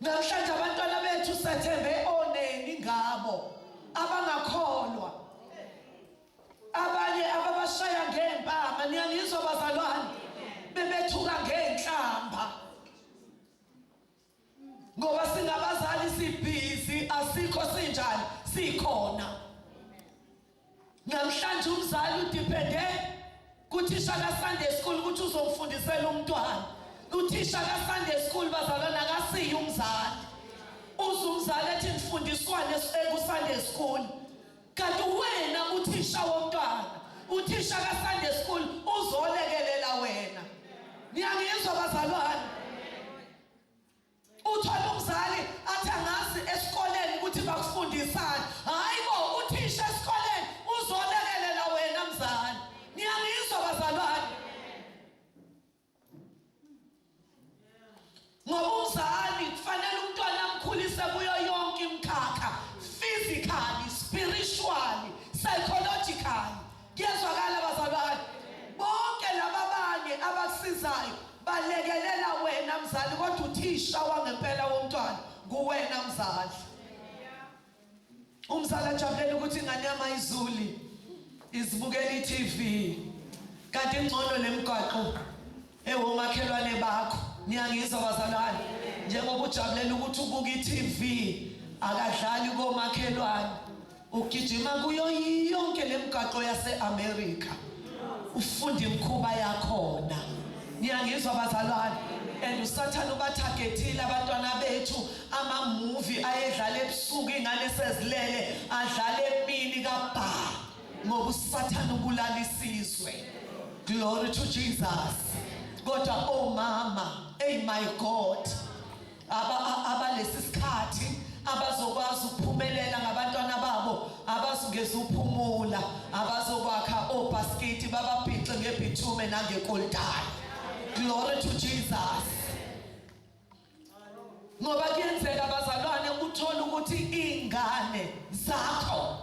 Namhlanje abantwana bethu sethembe oneni ngabo abangakholwa abanye ababashaya ngempama niyangizwa bazalwane bebethuka ngenhlamba ngoba singabazali sibhizi asikho sinjani sikhona Namhlanje umzali udepende kuthisha kaSunday school ukuthi uzomfundisela umntwana. Uthisha kaSunday school bazalwana akasiyi umzali. Uze umzali ethi ngifundiswane ekuSunday school. Kanti wena uthisha womntwana, uthisha kaSunday school uzolekelela wena. Niyangizwa bazalwane? Uthole umzali athi angazi esikoleni ukuthi bakufundisani. Hayi bo uthisha esikoleni uzolekelela wena mzali. Niyangizwa bazalwane? Ngoba umzali kufanele umntwana amkhulise kuyo yonke imikhakha physically, spiritually, psychologically. Kuyezwakala bazalwane. Bonke laba abanye abakusizayo balekelela wena mzali kodwa uthisha wangempela womntwana kuwena mzali. Umzali ajabulela ukuthi ingane yama izuli izibukela iTV. Kanti ingcono lemgwaqo Ewu makhelwane bakho niyangizwa bazalwane njengoba ujabulela ukuthi ubuka i-TV akadlali komakhelwane ugijima kuyo yonke lemgaqo yase-America ufunda imkhuba yakhona niyangizwa bazalwane and usathane ubathagethile abantwana bethu amamuvi ayedlala ebusuku ingane sezilele adlale emini kabhaa ngoba usathane ubulala isizwe glory to jesus kodwa omama oh ey my god abalesi aba sikhathi abazokwazi ukuphumelela ngabantwana babo abazungeza uphumula abazokwakha obhaskiti bababhixe ngebithume nangekoltani glory to jesus ngoba kuyenzeka bazalwane uthole ukuthi iy'ngane zakho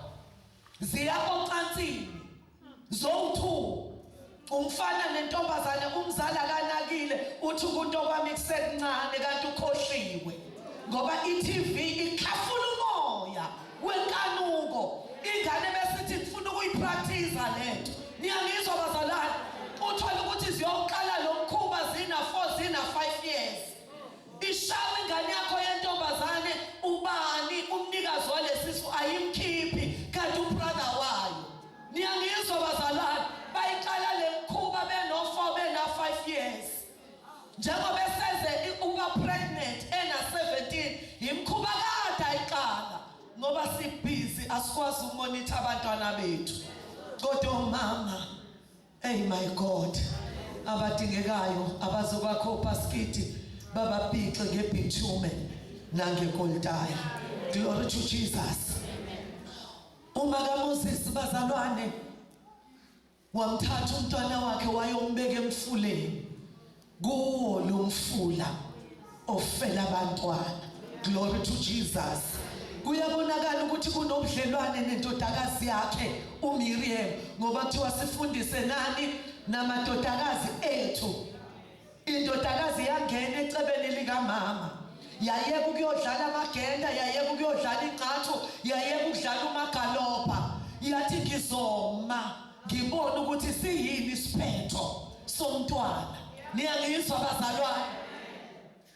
ziya ocansini zowu-two umfana nentombazane umzali akanakile uthi ukunto kwami kusekuncane kanti ukhohliwe ngoba i-tv ikhafula umoya wenkanuko ingane besithi ngifuna ukuyipractice lento niyangizwa bazalwane uthola ukuthi ziyoqala lo mkhuba zina 4 zina 5 years ishawa ingane yakho yentombazane ubani umnikazi walesisu ayimkhiphi kanti ubrother wayo niyangizwa bazalwane bayiqala le mkhuba beno 4 bena 5 years njengoba eseze ukuba pregnant ena 17 yimkhuba kade ayixaka ngoba sibhizi asikwazi umonitha abantwana bethu kodwa umama hey my god abadingekayo abazobakho paskiti babaphixe ngebitume nangekoltayi glory to jesus uma kaMoses bazalwane Wamthatha umntwana wakhe wayombeka emfuleni kuwo lo mfula ofela abantwana. Glory to Jesus. Kuyabonakala ukuthi kunobudlelwane nendodakazi yakhe uMiriam ngoba kuthiwa sifundise nani namadodakazi ethu Indodakazi yangena ecebeni likamama yayeka ukuyodlala amagenda yayeka ukuyodlala ingqathu yayeka ukudlala umagalopha yathi ngizoma ngibone ukuthi siyini isiphetho somntwana niyangizwa bazalwane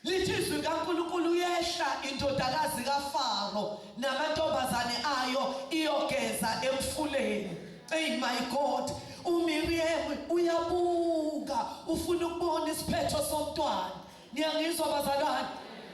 lithi izwi kaNkulunkulu yehla indodakazi kaFaro namantombazane ayo iyogeza emfuleni Hey my God, uMiriam uyabuka ufuna ukubona isiphetho somntwana. Niyangizwa bazalwane?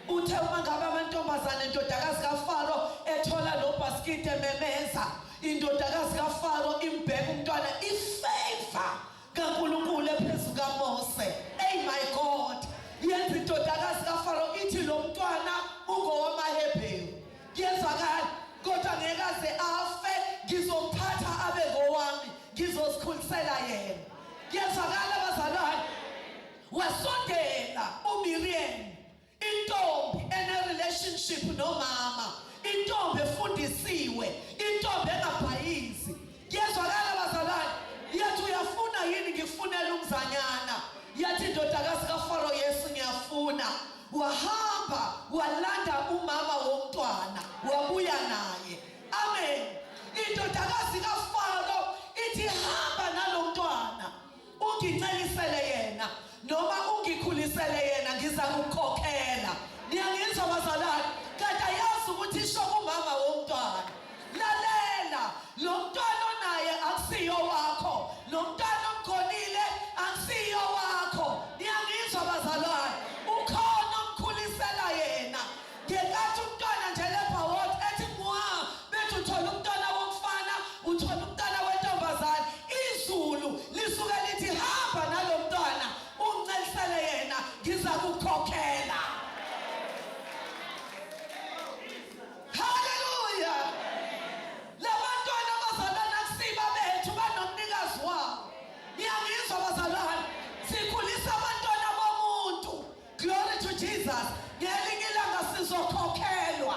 Uthe uma ngabe amantombazane endodakazi kaFaro ethola lo bhaskiti ememeza, indodakazi kaFaro imbheka umntwana ifavor kaNkulunkulu ephezu kaMose. Hey my God, yenza indodakazi kaFaro ithi lo mntwana ungowamaHebheru. Kuyezwakala kodwa ngeke aze afe ngizomphatha abe ngowami ngizozikhulisela yena. Kuyezwakala bazalwane. Wasondela uMiriam intombi ene relationship nomama, intombi efundisiwe, intombi engabhayizi Kuyezwakala bazalwane, yathi uyafuna yini ngikufunele umzanyana? Yathi indodakazi kaFaro, Yesu ngiyafuna. Wahamba walanda umama womntwana wabuya naye. Amen. Indodakazi kaFaro ithi hamba nalo mntwana. ungincelisele yena noma ungikhulisele yena ngiza kukhokhela niyangizwa bazalwane kanti ayazi ukuthi isho kumama womntwana lalela lo mntwana onaye akusiyo wakho lo mntwana omgonile akusiyo wakho niyangizwa bazalwane ukhona omkhulisela yena Ngenkathi umntwana nje lebha wodwa ethi mwa bethi uthola umntwana womfana uthola umntwana wentombazane izulu lisuke lithi hamba nalo mntwana uncelisele yena ngiza kukhokhela haleluya labantwana abazalwa nakusiba bethu banomnikazi wabo niyangizwa bazalwane sikhulisa abantwana bomuntu Glory to Jesus. Ngelinye ilanga sizokhokhelwa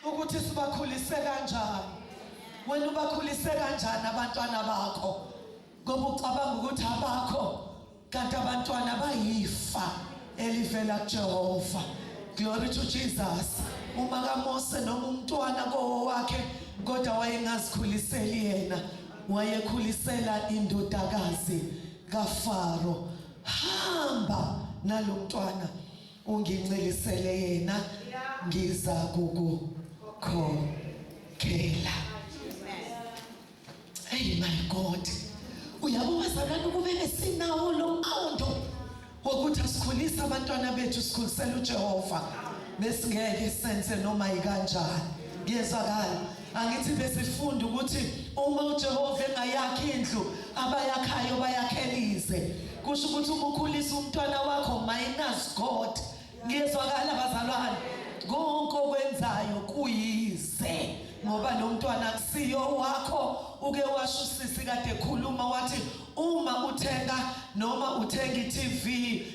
ukuthi sibakhulise kanjani. Wena ubakhulise kanjani abantwana bakho? Ngoba ucabanga ukuthi abakho kanti abantwana bayifa elivela kuJehova. Glory to Jesus. Uma kaMose noma umntwana kowakhe kodwa wayengazikhuliseli yena, wayekhulisela indodakazi kaFaro. hamba nalomntwana ungincelisele yena ngiza kukukhokhela hey my god uyabo bazalwane kumele sinawo lo mqondo wokuthi asikhulise abantwana bethu sikhulisela uJehova besingeke senze noma yikanjani ngiyezwakala angithi besifunda ukuthi uma uJehova engayakhi indlu abayakhayo bayakhelize kusho ukuthi uma ukhulisa umntwana wakho minus God ngiyezwakala bazalwane konke okwenzayo kuyize ngoba lo mntwana akusiyo wakho uke washo usisi kade ekhuluma wathi Uma uthenga noma uthenga iTV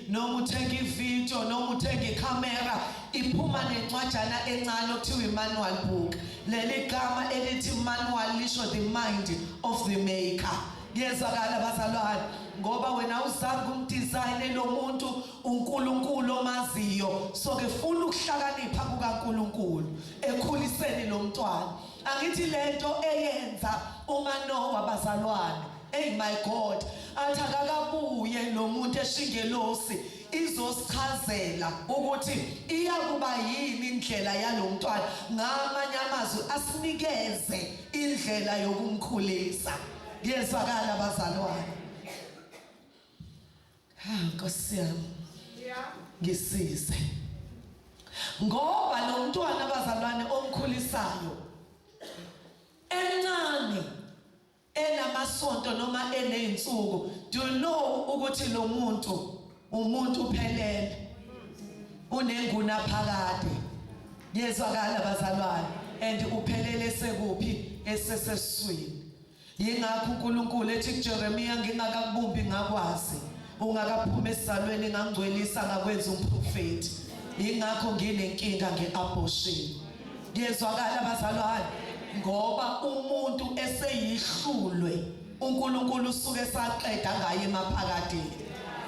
noma uthenga ivideo noma uthenga ikhamera iphuma nencwajana encane okuthiwa imanual book leli gama elithi manual lisho the mind of the maker kuyezwakala bazalwane ngoba wena uzange umdizayine lo muntu uNkulunkulu omaziyo so ke funa ukuhlakanipha kukaNkulunkulu ekhuliseni lo mntwana angithi lento eyenza umanowa bazalwane Hey my God, athi akakabuye lo muntu eshingelosi izosichazela ukuthi iyakuba yini indlela yalomntwana ngamanye amazwi asinikeze indlela yokumkhulisa ngiyezwakala bazalwane ha nkosi yami ngisize ngoba lo mntwana abazalwane omkhulisayo encane enamasonto noma eney'nsuku do you know ukuthi lo muntu umuntu uphelele unenguna phakade yezwakala bazalwane and uphelele sekuphi eseseswini yingakho uNkulunkulu ethi kuJeremiya ngingakakubumbi ngakwazi ungakaphuma esizalweni ngangcwelisa ngakwenza umprofeti yingakho nginenkinga ngeabortion ngiyezwakala bazalwane ngoba umuntu eseyihlulwe uNkulunkulu usuke saqeda ngaye emaphakadeni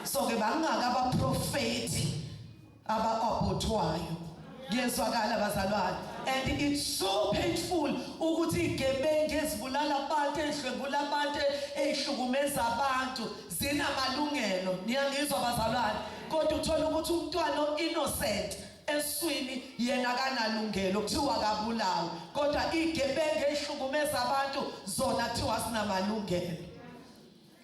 so ke bangaka abaprofeti abaabothwayo ngiyezwakala bazalwane and it's so painful ukuthi igebengu ezibulala abantu ezidlwengula abantu ezihlukumeza abantu zinamalungelo niyangizwa bazalwane kodwa uthola ukuthi umntwana innocent eswini yena kanalungelo kuthiwa kabulawa kodwa igebenge ehlukumeza abantu zona kuthiwa sinamalungelo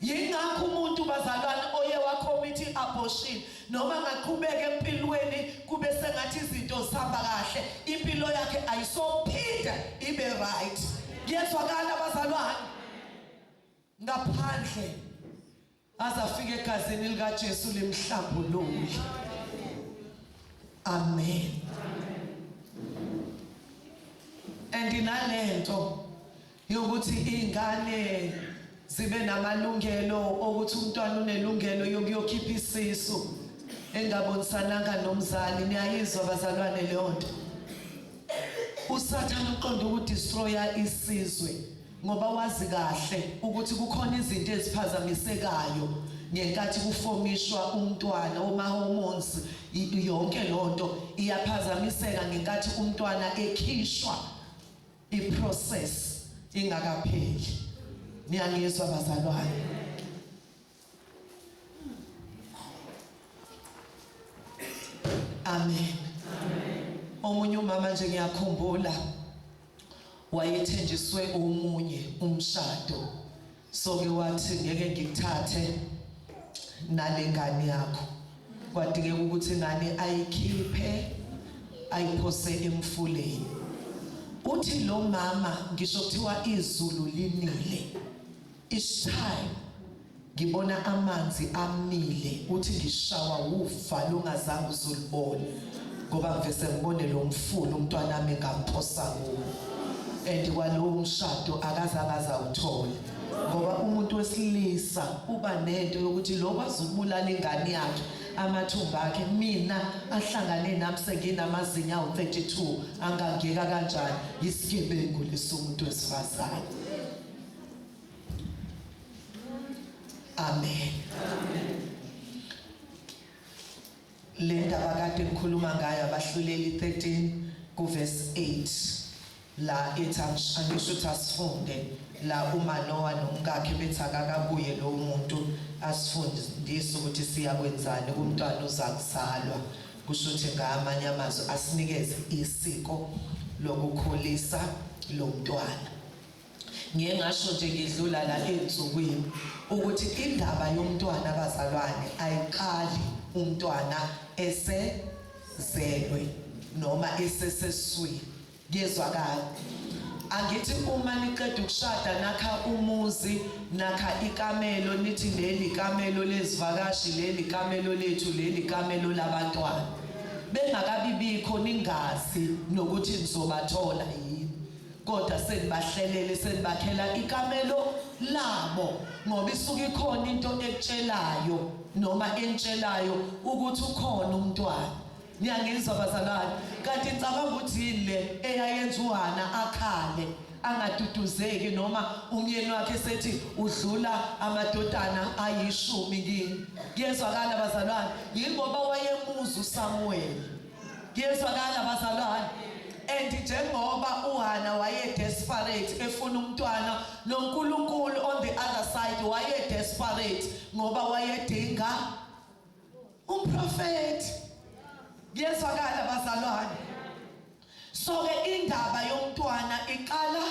yingakho umuntu bazalwane oye wakhomithi abortion noma ngaqhubeka empilweni kube sengathi izinto zihamba kahle impilo yakhe ayisophinda ibe right kuyezwakala bazalwane ngaphandle aze afike egazini likaJesu limhlambulule amen and inalento yokuthi ingane zibe namalungelo okuthi umntwana unelungelo yokuyokhipha isisu engabonisananga nomzali niyayizwa bazalwane leyo nto usathane uqonda ukudestroya isizwe ngoba wazi kahle ukuthi kukhona izinto eziphazamisekayo ngenkathi kufomishwa umntwana woma-hormones yonke loo nto iyaphazamiseka ngenkathi umntwana ekhishwa iprocess ingakapheli niyangizwa bazalwane Amen. Omunye umama nje ngiyakhumbula wayethenjiswe omunye umshado. So ke wathi ngeke ngikuthathe nalengane yakho. Kwadingeka ukuthi ingane ayikhiphe ayiphose emfuleni. Uthi lo mama ngisho kuthiwa izulu linile Ishaye ngibona amanzi amile uthi ngishawa wufa lungazange uzulibone ngoba ngivese ngibone lo mfulu umntwana wami ngamphosa kuwo and kwalowo mshado akazange azawuthole ngoba umuntu wesilisa uba nento yokuthi lo kwazi ukubulala ingane yakhe amathumba akhe mina ahlangane nami senginamazinyo awu-32 angangeka kanjani yisigebengu lesomuntu wesifazane Amen. Le ndaba kade ngikhuluma ngayo abahluleli 13 kuverse 8 la ethi angisho ukuthi asifunde la umanowa nomkakhe bethi akakabuye lowo muntu asifundise ukuthi siyakwenzani kumntwana uzakuzalwa kusho ukuthi ngamanye amazwi asinikeze isiko lokukhulisa lo mntwana Ngiye ngasho nje ngidlula la ezinsukwini ukuthi indaba yomntwana abazalwane ayiqali umntwana esezelwe noma eseseswini kuyezwakala angithi uma niqeda ukushada nakha umuzi nakha ikamelo nithi leli kamelo lezivakashi leli kamelo lethu leli kamelo labantwana bengakabibikho ningazi nokuthi nizobathola yini kodwa senibahlelele senibakhela ikamelo labo ngoba isuke ikhona into ekutshelayo noma entshelayo ukuthi ukhona umntwana niyangizwa bazalwane kanti ngicabanga ukuthi yini le eyayenza uhana akhale angaduduzeki noma umyeni wakhe sethi udlula amadodana ayishumi kini kuyezwakala bazalwane yingoba wayemuzwa usamuweli Kuyezwakala bazalwane. And njengoba uHana waye desperate efuna umntwana noNkulunkulu on the other side waye desperate ngoba wayedinga umprofeti. Kuyezwakala bazalwane. So ke indaba yomntwana iqala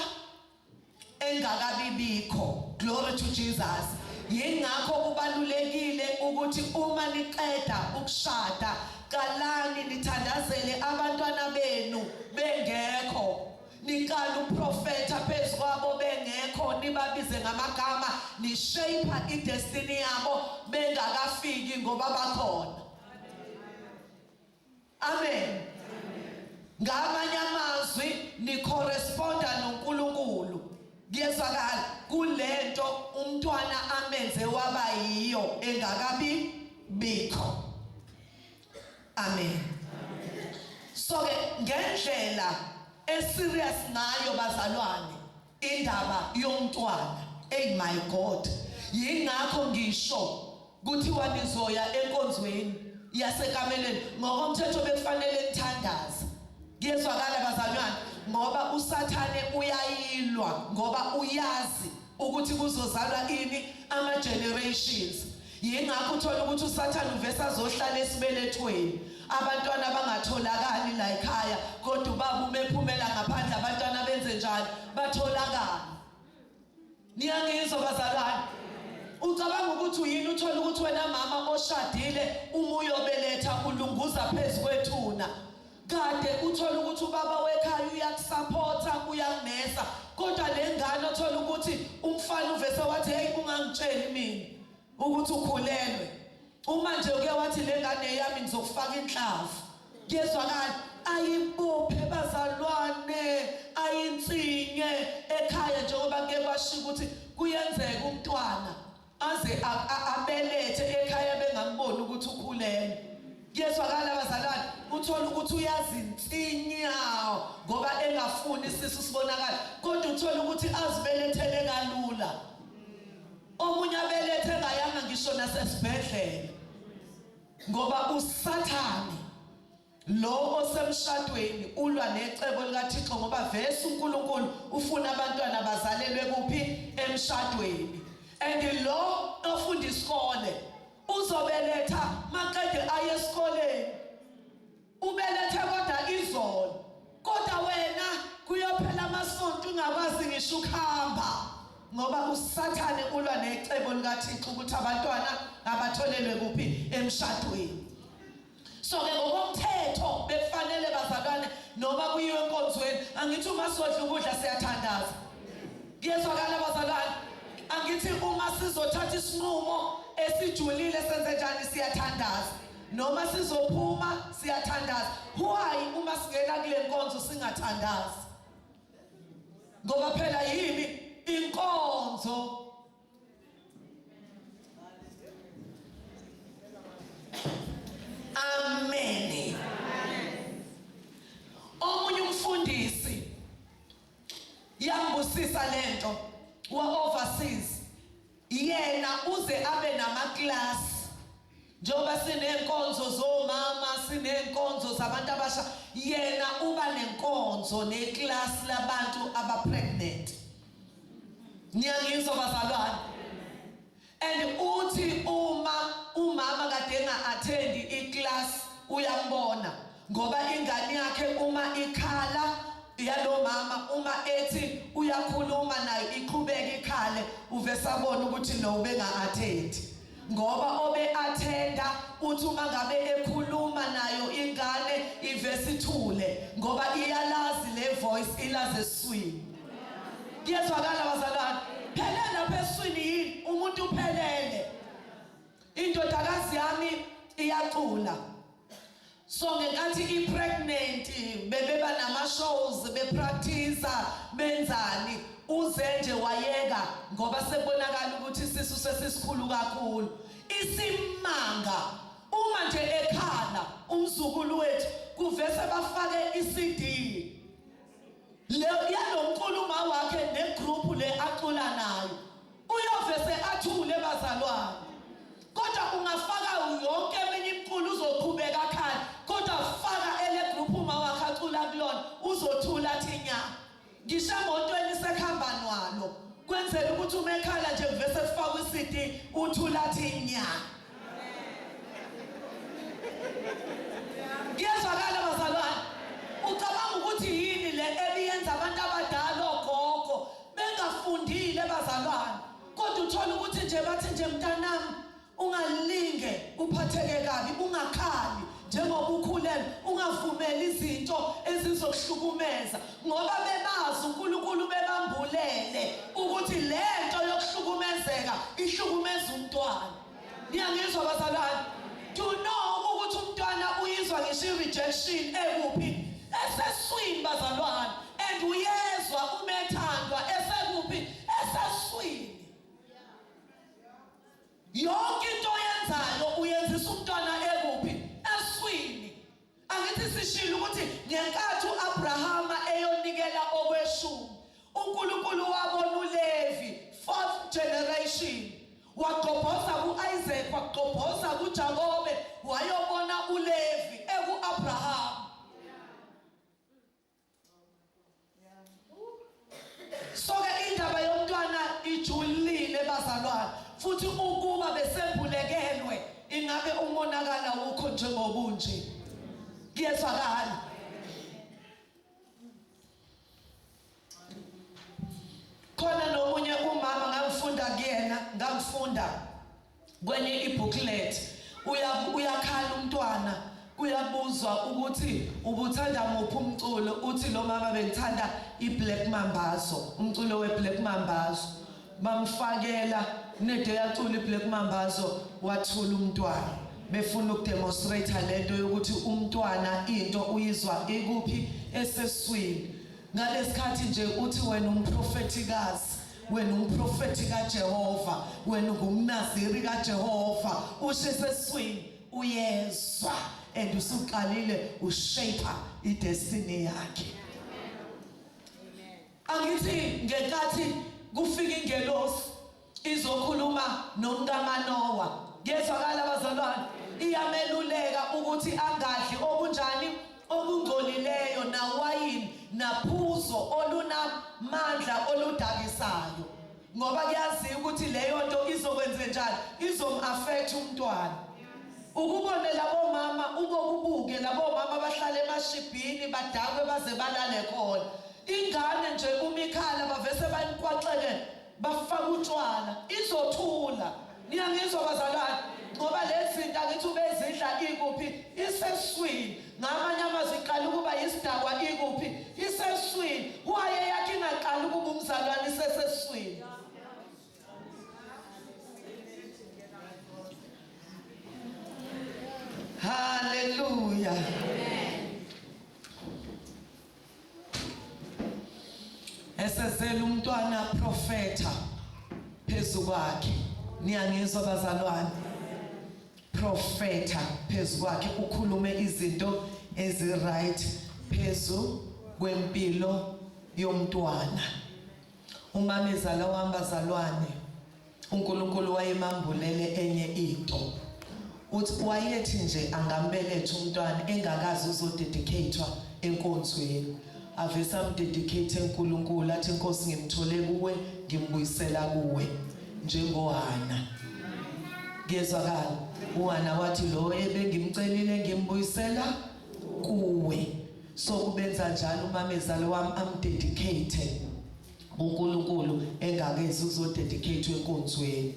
engakabi bikho glory to Jesus yingakho kubalulekile ukuthi uma niqeda ukushada qalani nithandazele abantwana benu bengekho niqala uprofetha phezu kwabo bengekho nibabize ngamagama nishape idestiny yabo bengakafiki ngoba bakhona Amen. Ngamanye amazwi nicorresponda noNkulunkulu. Kuyezwakala kulento umntwana amenze waba yiyo engakabi bikho. Amen. So ke ngendlela eserious ngayo bazalwane Indaba yomntwana ey my God yingakho ngisho kuthiwa nizoya enkonzweni yasekameleni ngokomthetho bekufanele nithandaze kuyezwakala bazalwane ngoba usathane uyayilwa ngoba uyazi ukuthi kuzozalwa ini ama generations Yingakho uthola ukuthi uSathane uvese azohlala esibelethweni. Abantwana abangatholakali la ekhaya kodwa ubaba uma ephumela ngaphandle abantwana benze njalo batholakala. Niyangizwa bazalwane? Ucabanga ukuthi uyini uthola ukuthi wena mama oshadile uma uyobeletha ulunguza phezu kwethuna. Kade uthole ukuthi ubaba wekhaya uyakusaphotha uyakumesa kodwa le ngane othola ukuthi umfana uvese wathi heyi ungangitsheli mina ukuthi ukhulelwe uma nje uke wathi le ngane yami ngizokufaka inhlavu kuyezwakala ayibophe bazalwane ayinsinye ekhaya njengoba kuye kwashiya ukuthi kuyenzeka umntwana Aze abelethe ekhaya bengamboni ukuthi ukhulelwe. Kuyezwakala bazalwane uthola ukuthi uyazinsinya ngoba engafuni isisu sibonakala kodwa uthola ukuthi azibelethele kalula. Omunye abelethe ngayanga ngisho nasesibhedlela ngoba usathane Lo osemshadweni ulwa necebo likaThixo ngoba vese uNkulunkulu ufuna abantwana bazalelwe kuphi emshadweni and lo ofunda isikole uzobeletha maqede aye esikoleni ubelethe kodwa izolo kodwa wena kuyophela amasonto ungakwazi ngisho ukuhamba ngoba usathane ulwa necebo likaThixo ukuthi abantwana abatholelwe kuphi emshadweni so ke ngokomthetho bekufanele bazalwane noma kuyiwe enkonzweni angithi uma sodla ukudla siyathandaza kuyezwakala bazalwane angithi uma sizothatha isinqumo esijulile senze njani siyathandaza noma sizophuma siyathandaza why uma singena kule nkonzo singathandazi ngoba phela yini inkonzo Amen. Omunye umfundisi yambusisa lento wa overseas yena uze abe nama class njengoba sineenkonzo zomama sineenkonzo zabantu abasha yena uba nenkonzo neklasi labantu abapregnant niyangizwa bazalwane and uthi uma umama kade enga-athendi iklasi uyambona ngoba ingane yakhe uma ikhala yalo mama uma ethi uyakhuluma nayo iqhubeke ikhale uvesabona ukuthi no ubenga-athendi ngoba obe athenda uthi uma ngabe ekhuluma nayo ingane ivese ithule ngoba iyalazi le voice ilaze eswini kuyezwakala bazalwane phelele lapha eswini yini umuntu uphelele indodakazi yami iyacula so ngenkathi i-pregnant bebeba nama-shows bepractisa benzani uze nje wayeka ngoba sekubonakala ukuthi isisu sesisikhulu kakhulu isimanga uma nje ekhala umzukulu wethu kuvese bafake i-CD le yalomculo uma wakhe negroup le acula nayo Uyovese athule bazalwane. Kodwa ungafaka yonke eminye imculo uzoqhubeka akhale kodwa faka ele group uma wakhe acula kulona uzothula athi nya. Ngisho emotweni sekuhamba nwalo kwenzela ukuthi uma ekhala nje kuvese kufakwe iCD uthula athi nya. Ngiyezwakala bazalwane. Ucabanga ukuthi yini le ebiyenza abantu abadala ogogo bengafundile bazalwane kodwa uthola ukuthi nje bathi nje mntanami ungalinge uphatheke kabi ungakhali njengoba ukhulelwe ungavumeli izinto ezizokuhlukumeza ngoba bebazi uNkulunkulu bebambulele ukuthi lento yokuhlukumezeka ihlukumeza umntwana niyangizwa abazalwane do know ukuthi umntwana uyizwa ngisho i-rejection ekuphi eseswini bazalwane and uyezwa umethandwa esekuphi eseswini yonke into oyenzayo uyenzisa umntwana ekuphi eswini Angithi sishilo ukuthi ngenkathi uAbrahama eyonikela okweshumi, uNkulunkulu wabona uLevi, fourth generation. Wagqobhoza kuIsaac, wagqobhoza kuJakobe, wayobona uLevi ekuAbrahama. soke indaba yomntwana ijulile bazalwane futhi ukuba besembulekelwe ingabe umonakala wukho njengobunje kuyezwakala khona nomunye umama ngamfunda kuyena ngamfunda Kwenye ibooklet uyakhala umntwana kuyabuzwa ukuthi ubuthanda muphi umculo uthi lo mama bengithanda iBlack Mambazo umculo weBlack Mambazo bamfakela nedo yacula iBlack Mambazo wathula umntwana befuna ukudemonstrate lento yokuthi umntwana into uyizwa ikuphi eseswini Ngalesikhathi nje uthi wena umprofethikazi wena umprofethi kaJehova wena ungumnaziri kaJehova usho eseswini uyezwa and usuqalile ushape idestiny yakhe angithi ngenkathi kufika ingelosi Izokhuluma nomkaManowa. Kuyezwakala bazalwane? Iyameluleka ukuthi angadli okunjani? Okungcolileyo nawayini naphuzo olunamandla oludakisayo. Ngoba kuyaziwa ukuthi leyo nto izokwenzenjani? Izomafetha umntwana. Ukubone labo mama ubokubuke labo mama bahlale emashibhini badakwe baze balale khona. Ingane nje umikhala bavese banikwaxeke bafaka utshwala izothula niyangizwa bazalwane ngoba lezi zinto angithi ubezidla ikuphi iseswini ngamanye amazwi iqala ukuba yisidakwa ikuphi iseswini waye yakhe ingaqala ukuba umzalwane iseseswini haleluya esezela umntwana profeta phezu kwakhe niyangizwa bazalwane profeta phezu kwakhe ukhulume izinto eziright phezu kwempilo yomntwana umamezala wami bazalwane UNkulunkulu wayemambulele enye into. Uthi wayethi nje angambeletha umntwana engakaze uzodedicatwa enkonzweni. Avese amdedicate eNkulunkulu athi Nkosi ngimthole kuwe ngimbuyisela kuwe njengoHana. Kuyezwakala. UHana wathi lo ebengimcelile ngimbuyisela kuwe. So kubenza njalo umamezalo wami amdedicate kuNkulunkulu engakezi uzodedicate enkonzweni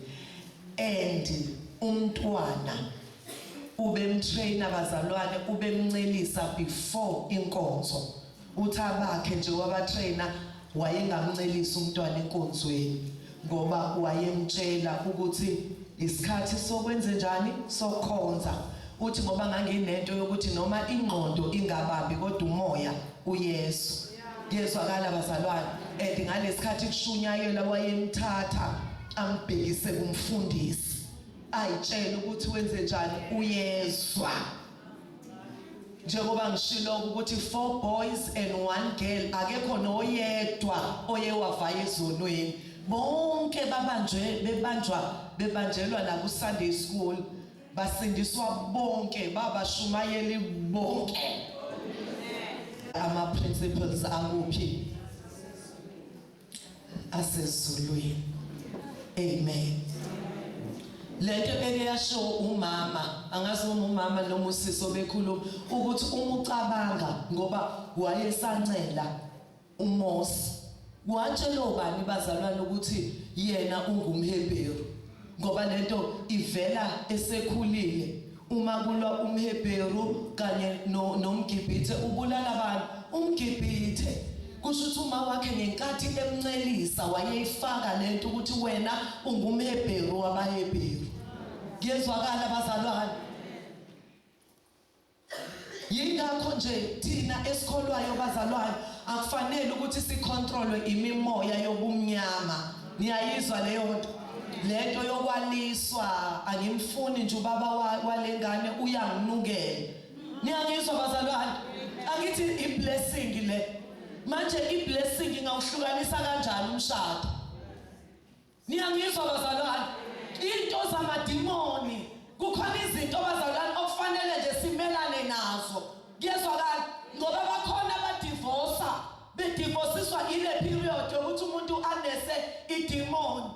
and umntwana ubemtrainer bazalwane ubemncelisa before inkonzo uthi abakhe nje wabatrainer wayengamncelisa umntwana enkonzweni ngoba wayemtshela ukuthi isikhathi sokwenze njani sokhonza uthi ngoba nganginento yokuthi noma ingqondo ingababi kodwa umoya uyesu Ngiyezwakala bazalwane and ngalesikhathi kushunyayela wayemthatha ambhekise kumfundisi ayitshela ukuthi wenze njani uyezwa njengoba ngishilo ukuthi four boys and one girl akekho noyedwa oye wavaya ezonweni bonke babanjwe bebanjwa bebanjelwa la ku Sunday school basindiswa bonke babashumayeli bonke ama principles akuphi asezulwini amen lento beke yasho umama angazi uma umama noma usisi obekhuluma ukuthi uma ucabanga ngoba wayesancela UMose watshelwa ubani bazalwane ukuthi yena ungumHebheru? Ngoba lento ivela esekhulile. Uma kulwa umHebheru kanye no, nomGibhithe ubulala abantu. UmGibhithe kusho ukuthi uma wakhe ngenkathi emncelisa wayeyifaka lento ukuthi wena ungumHebheru wabaHebheru. Kuyezwakala bazalwane. Yingakho nje thina esikholwayo bazalwane akufanele ukuthi sicontrolwe imimoya yobumnyama. Niyayizwa leyo nto? Lento yokwaliswa angimfuni nje ubaba walengane uyanginukela. Niyangizwa bazalwane? Angithi iblessing le. Manje iblessing ingawuhlukanisa kanjani umshado? Niyangizwa bazalwane? Into zamadimoni kukhona izinto bazalwane okufanele nje simelane nazo. Kuyezwakala ngoba bakhona abadivosa bedivosiswa ile period yokuthi umuntu anese idimoni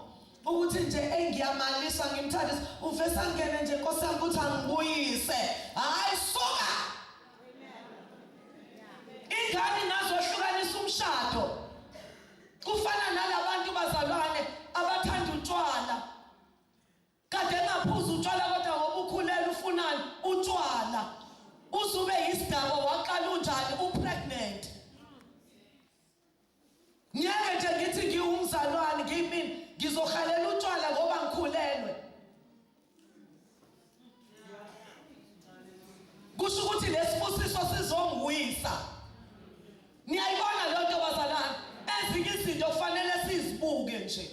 ukuthi nje engiyamalisa ngimthandisa uvesa ngene nje Nkosi yami ukuthi angibuyise hayi suka ingane nazohlukanisa umshado kufana nalabantu bazalwane abathanda utshwala kade engaphuza utshwala kodwa ngoba ukhulela ufunani utshwala uzube yisidako waqala unjani upregnant ngeke nje ngithi ngiwumzalwane ngimini ngizohalela utshwala ngoba ngikhulelwe kusho ukuthi lesibusiso sizongwisa niyayibona leyo nto bazalana ezinye izinto kufanele sizibuke nje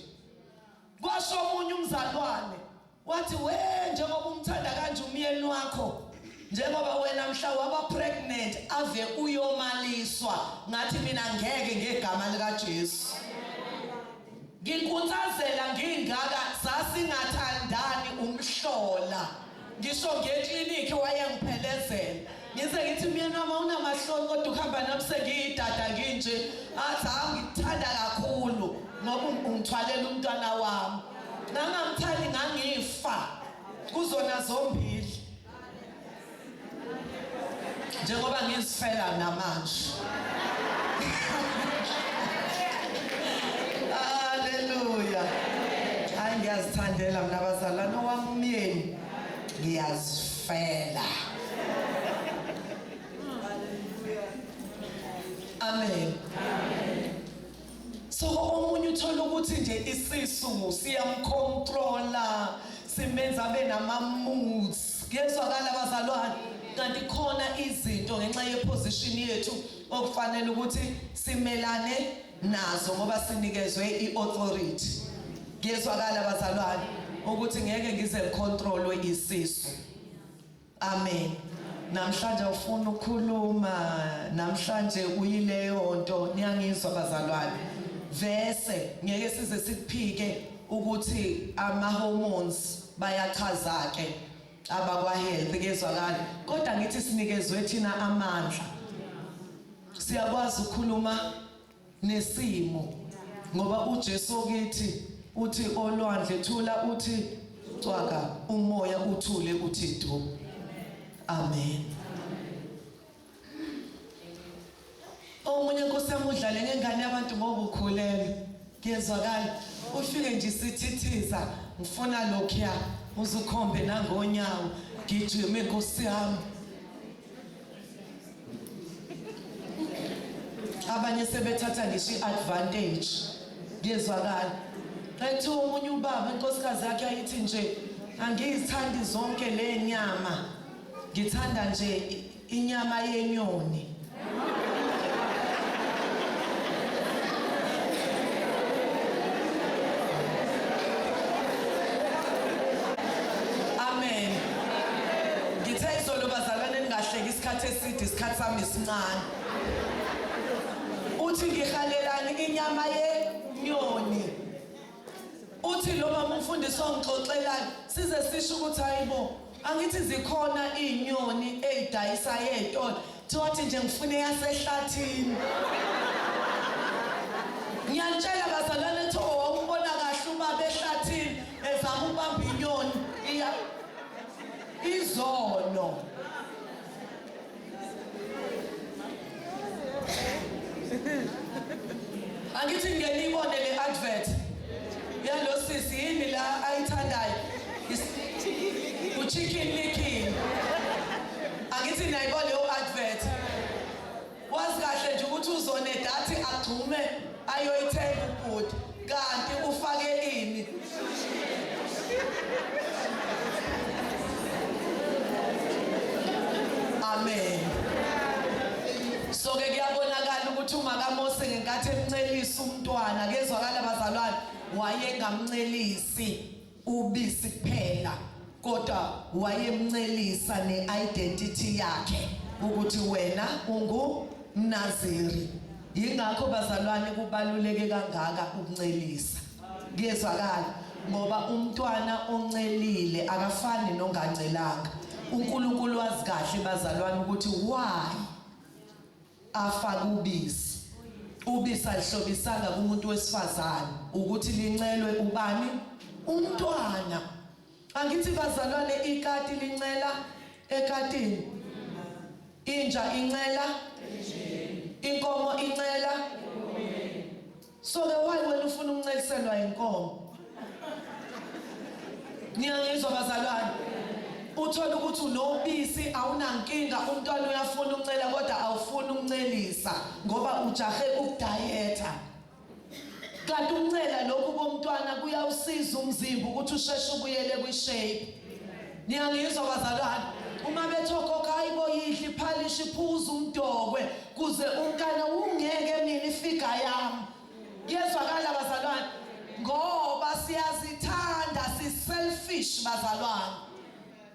kwasho omunye umzalwane wathi we njengoba umthanda kanje umyeni wakho njengoba wena mhla waba pregnant ave uyomaliswa ngathi mina ngeke ngegama lika Jesu Nginkutsazela ngingaka sasingathandani umhlola ngisho ngeklinikhi wayengiphelezela ngize ngithi myeni wami awunamahloni kodwa ukuhamba nami sengiyidada nginje athi hawu ngikuthanda kakhulu ngoba ungithwalela umntwana wami ngangamthandi ngangifa kuzona zombili njengoba ngizifela namanje haleluya hayi ngiyazithandela mina bazalwane wami umyeni ngiyazifela amen, amen. so omunye uthola ukuthi nje isisu siyamcontrola simenza abe nama-moods kuyezwakala bazalwane kanti khona izinto ngenxa yeposition yethu okufanele ukuthi simelane nazo ngoba sinikezwe i-authority kuyezwakala bazalwane ukuthi ngeke ngize ngicontrolwe isisu Amen. Namhlanje ufuna ukukhuluma, namhlanje uyileyo nto niyangizwa bazalwane. Vese ngeke size sikuphike ukuthi ama hormones bayachaza ke abakwa health kezwakala. Kodwa ngithi sinikezwe thina amandla. Siyakwazi ukukhuluma nesimo ngoba uJesu kithi uthi olwandle thula uthi cwaka umoya uthule uthi du amen omunye kusemudlale ngengane yabantu ngoba ukhulele ngiyezwakala ufike nje sithithiza ngifuna lokhuya uzukhombe nangonyawo ngijime nkosi yami abanye sebethatha ngisho i-advantage kuyezwakala ethi omunye ubaba inkosikazi yakhe ayithi nje angiyithandi zonke le nyama ngithanda nje inyama yenyoni isikhathi eside isikhathi sami sincane uthi ngihalelani inyama yenyoni uthi lo mama umfundisi ongixoxelani size sisho ukuthi hayibo angithi zikhona izinyoni ezidayisa ezitolo thothi nje ngifuna yasehlathini ngiyantshela bazalwane tho wawumbona kahle ubaba ehlathini ezama ubamba inyoni iya izono angithi ngeke ibone le advert yalo sisi yini la ayithandayo uchicken licking angithi nayibona leyo advert Wazi kahle nje ukuthi uzoneda athi agxume ayoyithenga ubhuti kanti ufake ini. Amen. So ke kuyabonakala ukuthi uma kaMose ngenkathi emncelisa umntwana kezwakala bazalwane wayengamncelisi. ubisi kuphela kodwa wayemncelisa ne-identity yakhe ukuthi wena ungumnaziri yingakho bazalwane kubaluleke kangaka ukuncelisa kuyezwakala ngoba umntwana oncelile akafani nongancelanga uNkulunkulu wazi kahle bazalwane ukuthi why afake ubisi ubisi alihlobisanga kumuntu wesifazane ukuthi lincelwe ubani umntwana angithi bazalwane ikati lincela ekatini inja incela inkomo incela So ke why wena ufuna ukuncekiselwa inkomo? Niyangizwa bazalwane? Uthola ukuthi unobisi awunankinga umntwana uyafuna ukuncela kodwa awufuni ukuncelisa ngoba ujahe ukudayetha. Kanti ukuncela lokhu komntwana kuyawusiza umzimba ukuthi usheshe ubuyele kwishape. niyangizwa bazalwane uma bethokoka hayibo yidla iphalishi phuza umdokwe kuze unkana ungeke mina ifiga yami kuyezwakala bazalwane ngoba siyazithanda siselfish bazalwane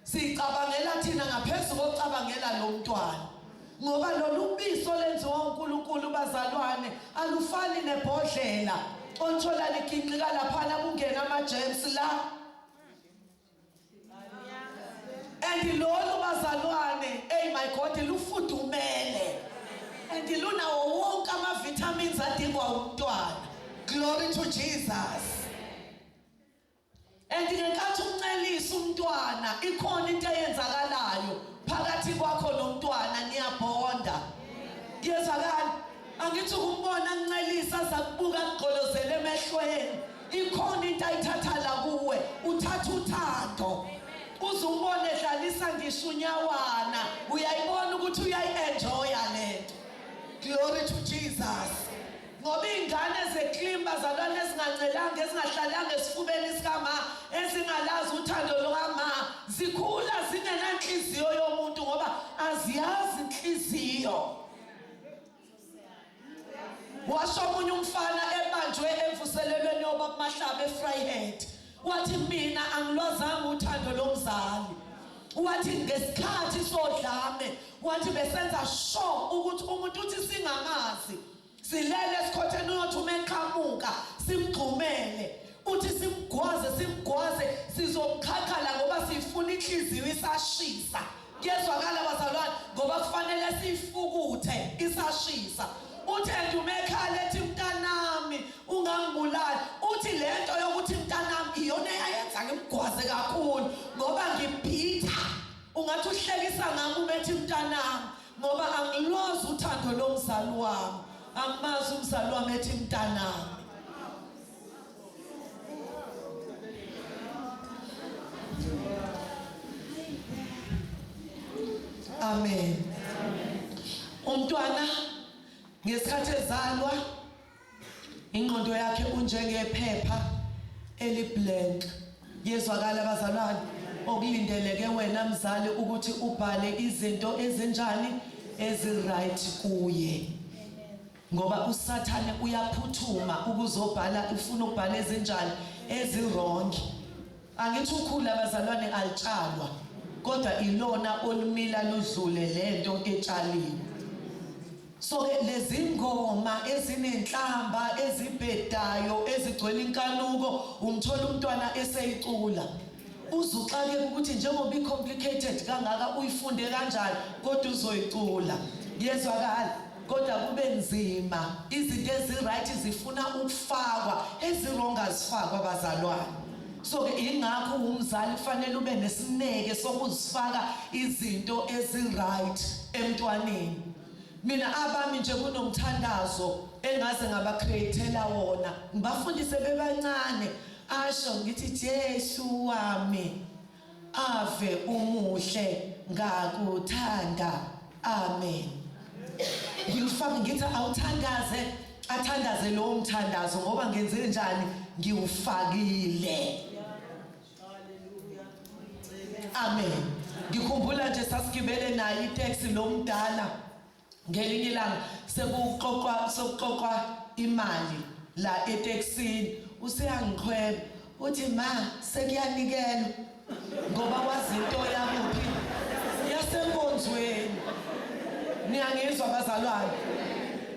sicabangela thina ngaphezulu kokucabangela lo mntwana ngoba lolu biso lenziwa uNkulunkulu bazalwane alufani nebhodlela othola liginqika laphana kungena ama germs la and lolu bazalwane eyi my god lufudumele and lunawo wonke ama-vitamins adingwa umntwana glory to jesus and ngenkathi umncelisa umntwana ikhona into eyenzakalayo phakathi kwakho nomntwana niyabonda kuyezwakala angithi ukumbona ncelisa zakubuka kugqolozele emehlweni ikhona into ayithatha la kuwe uthatha uthando uze umbone edlalisa ngisho unyawana uyayibona ukuthi uyayi-enjoya le nto glory to jesus ngoba iy'ngane zeklimi bazalwane ezingancelanga ezingahlalanga esifubeni sikama ezingalazi uthando lukama zikhula zingenanhliziyo yomuntu ngoba aziyazi inhliziyo washo omunye umfana ebanjwe emvuselelweni yoba kumahlaba efryhead wathi mina angilwazanga uthando lomzali wathi ngesikhathi sodlame wathi besenza sure ukuthi umuntu uthi singamazi silele esikhotheni uyothi uma eqhamuka simgxumele Uthi simgwaze simgwaze sizomkhakhala ngoba sifuna inhliziyo isashisa. Kuyezwakala bazalwane ngoba kufanele sifukuthe isashisa. Uthi endumekhala ethi mntanami ungangibulali. Uthi lento yokuthi mntanami iyona eyayenza ngimgwaze kakhulu ngoba ngibhitha. Ungathi uhlekisa ngami umethi mntanami ngoba angilozi uthando lomzali wami. Angimazi umzali wami ethi mntanami. Amen. Umntwana ngesikhathi ezalwa ingqondo yakhe unjengephepha eliblank yezwakala abazalwane okulindeleke wena mzali ukuthi ubhale izinto ezinjani eziright kuye Ngoba usathane uyaphuthuma ukuzobhala ufuna ukubhala ezinjani ezirongi. Angithi ukhula abazalwane alitshalwa kodwa ilona olumila ludlule lento etshaliwe. So ke lezi ngoma ezinenhlamba ezibhedayo ezigcwele inkanuko umthola umntwana eseyicula. Uze uxakeke ukuthi njengoba i-complicated kangaka uyifunde kanjani kodwa uzoyicula. Yezwakala kodwa kube nzima. Izinto ezi-right zifuna ukufakwa, ezi-wrong azifakwa bazalwane. So-ke yingakho uwumzali kufanele ube nesineke sokuzifaka izinto ezi-right emntwaneni. Mina abami nje kunomthandazo engaze ngaba-create-ela wona, ngibafundise bebancane. Asho ngithi Jesu wami ave umuhle ngakuthanda amen ngiyufaka ngithi awuthandaze athandaze lowo mthandazo ngoba ngenze njani ngiwufakile amen ngikhumbula nje sasigibele naye itaxi lomdala Ngelinye ilanga sekuxoxwa sokuxoxwa imali la eTexini useyangiqhweba uthi ma sekuyanikelwa ngoba wazi into yakuphi yasenkonzweni. Niyangizwa bazalwane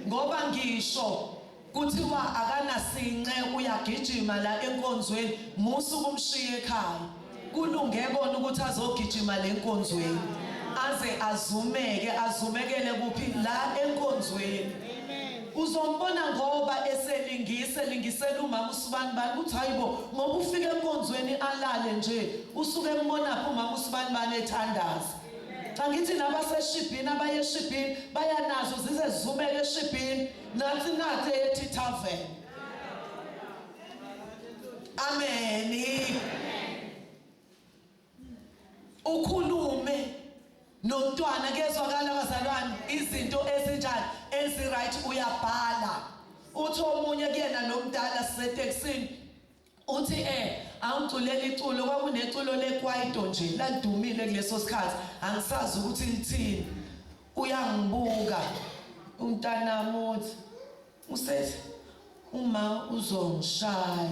ngoba ngisho Kuthiwa akanasinxe uyagijima la enkonzweni musa ukumshiya ekhaya. Kulunge kona ukuthi azogijima le nkonzweni. Aze azumeke azumekele kuphi la enkonzweni. Uzombona ngoba eselingise lingisela umama usibani bani ukuthi hayibo ngoba ufike enkonzweni alale nje usuke embona phi umama usibani bani ethandaza. Angithi nabaseshibhini abayeshibhini bayanazo zize zizumele eshibhini. Nansi inkathi ethi tavern. Amen. Ukhulume nomntwana kezwakala abazalwane izinto ezinjani eziright uyabhala. Uthi omunye kuyena nomdala siseteksini Uthi e awuculela iculo kwakuneculo lekwaito nje ladumile kuleso sikhathi angisazi ukuthi lithini uyangibuka umntanami uthi usethi uma uzongishaya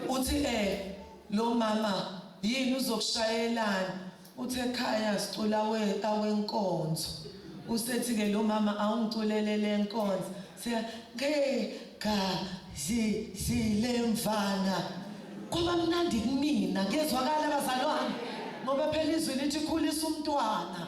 uthi eh lo mama yini uzokushayelana Uthe khaya sicula we awenkonzo. Usethi ke lo mama awungiculele lenkonzo. Siya ke ga zi zilemvana. Kwaba mnandi kumina ngezwakala bazalwane ngoba phela izwi lithi khulisa umntwana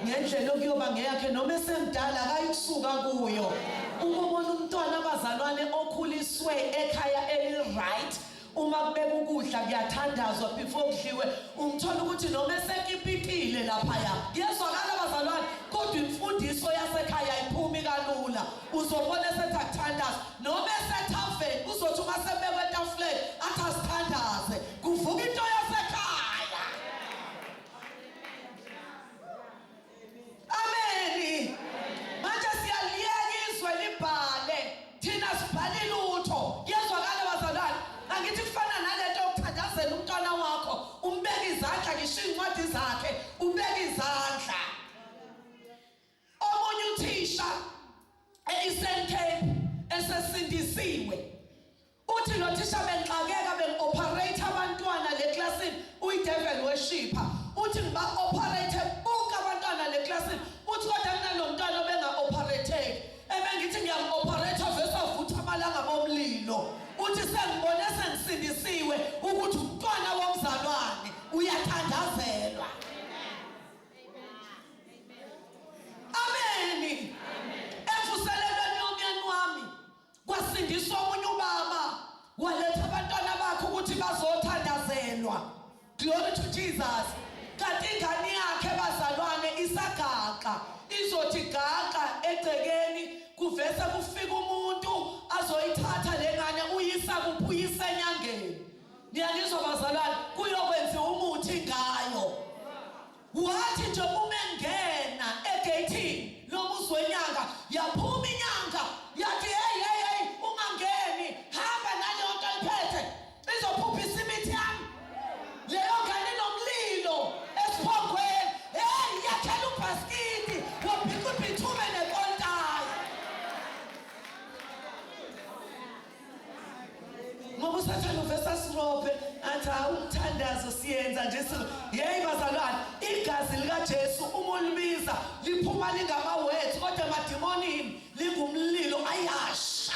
ngendlela okuyoba ngeyakhe noma esemdala akayikusuka kuyo. Uma ubona umntwana abazalwane okhuliswe ekhaya eli right uma kubeka ukudla kuyathandazwa before kudliwe ungithola ukuthi noma esekipitile laphaya kuyezwakala bazalwane kodwa imfundiso yasekhaya ayiphumi kalula uzobona esethi akuthandaze noma esethaveni uzothi uma sebekwe etafuleni athi asithandaze kuvuka into yasekhaya Ameni. Manje siyaliyeka izwe libhale. Thina sibhale lutho. Yezwakala bazalwane. Angithi kufana nalento yokuthandazela umntwana wakho, umbeka izandla ngisho incwadi zakhe, ubeka izandla. Omunye uthisha eIsenthe esesindisiwe Uthi nothisha bengixakeka bengi-operate abantwana le klasini uyideveli weshipha uthi ngiba-operate bonke abantwana le klasini uthi kodwa kunalomntwana obenga-operateki ebengithi ngiyamu-operate avese avutha amalanga bomlilo uthi sengibone sengisindisiwe ukuthi umntwana womzalwane uyathandazelwa ameni emvuselelweni yomyeni wami Kwasindiswa omunye ubaba waletha abantwana bakhe ukuthi bazothandazelwa. Glory to Jesus. Kanti ingane yakhe bazalwane isagaqa izothi gaqa egcekeni kuvese kufika umuntu azoyithatha lengane uyisa kuphuyisa enyangeni. Niyalizwa bazalwane kuyokwenziwa umuthi ngayo. Wathi nje uma engena egeyithini lomuzi wenyanga yaphuma inyanga yathi hey hey hey ungangeni hamba naleyo nto ayiphethe izophuphisa imithi yami leyo ngane inomlilo esiphongweni hey yakhela ubhasikidi wabhikubhithume nekontayi ngoba usathane uvese asirobhe athi hawu umthandazo siyenza nje sizo yeyi bazalwane igazi likajesu uma ulibiza liphuma lingamawethi kodwa emadimonini lingumlilo ayasha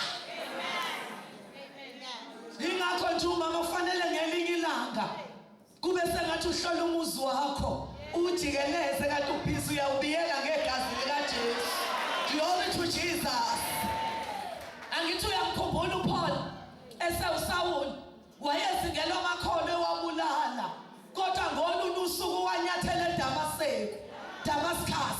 yingakho nje umama kufanele ngelinye ilanga Kube sengathi uhlola umuzi wakho uwujikeleze kanti ubhizi uyawubiyela ngegazi likaJesu. Glory to Jesus. Angithi uyamkhumbula uPaul esewuSawuli wayezingelwa amakhono ewabulala kodwa ngolunye usuku wanyathela eDamaseku, Damascus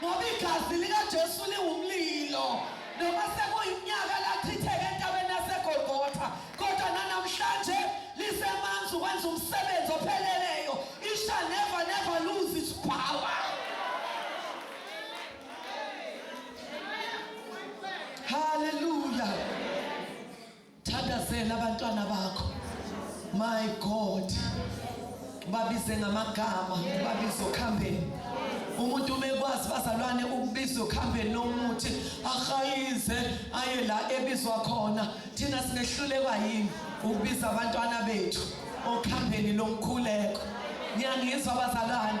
Ngoba igazi likaJesu liwumlilo, noma sekuyiminyaka lachitheka entabeni yaseGolgotha, kodwa nanamhlanje lisemanzi ukwenza umsebenzi opheleleyo. It shall never never lose its power. Hallelujah. thathazela abantwana bakho my god babize ngamagama babize okhambeni umuntu umekwazi bazalwane ukubiza okuhambeni lomuthi ahayize aye la ebizwa khona thina sinehlulekwa yini ukubiza abantwana bethu okuhambeni lomkhuleko niyangizwa bazalwane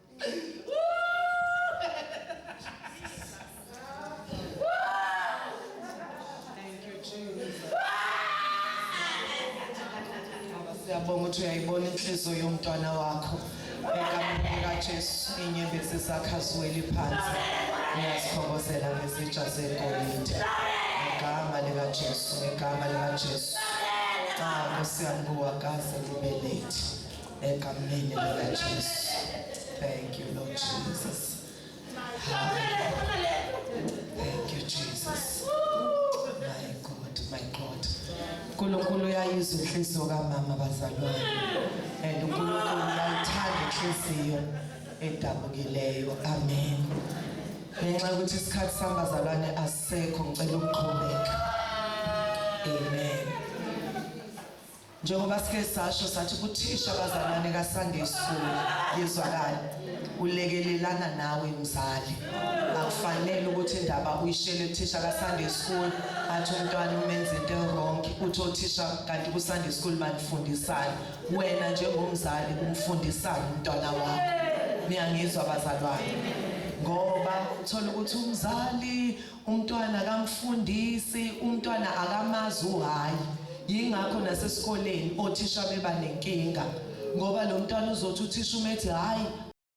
siyabonga ukuthi uyayibona inhliziyo yomntwana wakho ekamnika Jesu inyembezi zakhe aziweli phansi uyazikhongozela ngezitsha zegolide ngegama likaJesu ngegama likaJesu cha Nkosi yami kuwakaze kube late egameni likaJesu thank you Lord Jesus thank you Jesus my God my God uNkulunkulu uyayizwa inhliziyo kamama bazalwane and uNkulunkulu uyayithanda inhliziyo edabukileyo amen ngenxa yokuthi isikhathi sihamba zalwane asekho ngicela ukuqhubeka amen Njengoba sike sasho sathi kuthisha abazalwane kaSande Sulu yezwakala ulekelelana nawe mzali akufanele ukuthi indaba uyishele thisha kaSande School athi umntwana umenza into wrong uthi othisha kanti kuSande School banifundisana wena njengomzali umfundisana umntwana wakho niyangizwa bazalwane ngoba uthola ukuthi umzali Umntwana akamfundisi, umntwana akamazi uhayi. Yingakho nasesikoleni othisha beba nenkinga ngoba lo mntwana uzothi uthisha umethi hhayi.